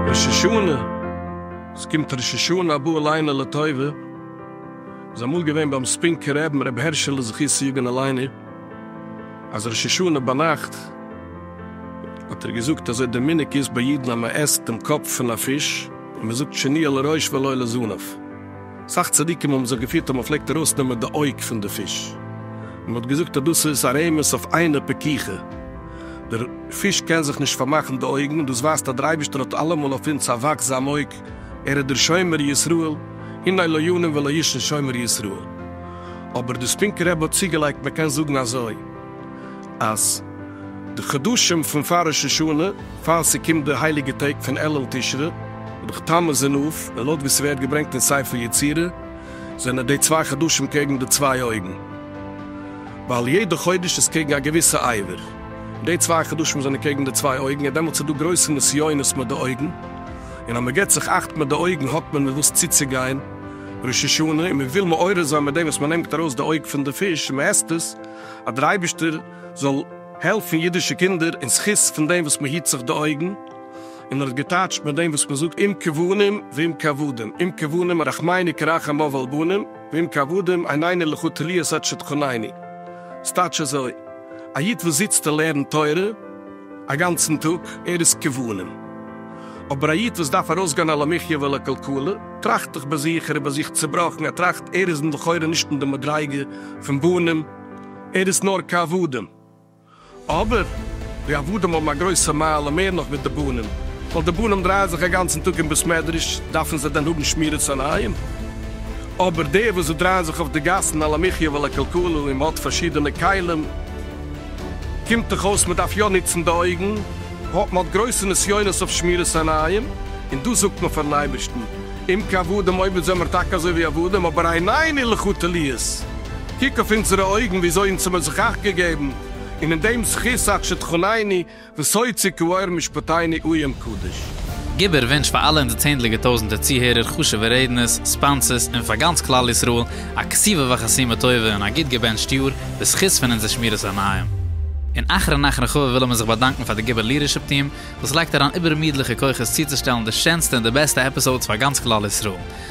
ראש השנה, עס קומט ראש השנה הבא עלינו לטובה, איז אמאל געווען ביים ספינקער רעבן רבי הערשעלע זכותו יגן עלינו, אז ראש השנה ביינאכט האט ער געזאגט אזוי די מנהג איז ביי אידן אז מען עסט דעם קאפ פון א פיש און מען זאגט שני אל הראש ואל אל הזנב. סאך צדיקים האבן זיך געפירט אז מען פלעגט ארויסנעמען די אויג פון די פיש, מען האט געזאגט אז דאס איז א רמז אויף עינא פקיחא, דער פיש קען זיך נישט פארמאכן די אויגן, און דאס ווייזט אז דער אייבערשטער האט אלעמאל אויף אונז א וואכזאם אויג, ער איז דער שומר ישראל, הנה לא ינום ולא ישן שומר ישראל. אבער דאס פינקע רבי האט צוגעלייגט, מען קען זאגן אזוי. אז די חדשים פון פאר ראש השנה, פאר ס'קומט די הייליגע טעג פון אלול תשרי, וואדאך תמוז און אב, און לויט ווי ס'ווערט געברענגט אין ספר יצירה, זענען די צוויי חדשים קעגן די צוויי אויגן, ווייל יעדע חודש איז קעגן א געוויסע עבר, און די צוויי חדשים זענען קעגן די צוויי אויגן, און דעמאלטס איז דא גרויסע נסיונות מיט די אויגן, און אז מ'געט זיך אכט מיט די אויגן האט מען מיט וואס צוצוגיין ראש השנה, און מ'וויל מעורר זיין מיט דעם וואס מ'נעמט ארויס די אויג פון די פיש און מ'עסט עס, אז דער אייבערשטער זאל העלפן אידישע קינדער אין זכות פון דעם וואס מען היט זיך די אויגן, און ער האט געטייטשט מיט דעם וואס מען זאגט אם כבנים ואם כעבדים, אם כבנים רחמיני כרחם אב על בנים, ואם כעבדים עיניני לכו תליאס עד שתחניני. ס'טייטש אזוי, א איד וואס זיצט און לערנט תורה, א גאנצן טאג, ער איז כבלים. אבער א איד וואס דארף ארויסגיין על המחיה ועל הכלכלה, טראכט דאך ביי זיך, ער איז ביי זיך צעבראכן, ער טראכט, ער איז לכאורה נישט אין די מדריגה פון בנים, ער איז נאר כעבדים. אבער, די עבדים האבן א גרויסע מעלה מער נאך ווי די בנים, ווייל די בנים דרייען זיך א גאנצן טאג אין בית מדרש, דארפן זיי דען האבן שמירת עיניים? אבער דער וואס דרייען זיך אויף די גאסן על המחיה ועל הכלכלה, און מען האט פארשידענע כלים, קומט דאך אויס מען דארף יא נוצן די אויגן, היות מען האט גרויסע נסיונות אויף שמירת עיניים, און דאס זאגט מען פארן אייבערשטן, אם כי עבדים עובד זעמער טאקע אזוי ווי עבדים, אבער עינינו ילכו תליות, קוק אויף אונזערע אויגן ווי אזוי אונז האמיר זיך אכט געגעבן, און אין דעם זכות אכשתחונני, וסוי צו כעור משפטינו אוים קדוש. גיבער ווינטש פאר אלע אונזער צענדליגער טויזענטער צוהערער, חשובע רעדנערס, ספאנסערס, און פאר גאנץ כלל ישראל, א כסובה וחסימה טובה און א גוט געבענטשט יאר, בזכות פון אונזער שמירת עיניים. און אחרון אחרון חביב ווילן מיר זיך באדאנקן פאר די גיבער ליעדערשיפ טיעם, וואס לייגט אריין איבערמידליכע כוחות צוצושטעלן די שענסטע און די בעסטע עפיסאודס פאר גאנץ כלל ישראל.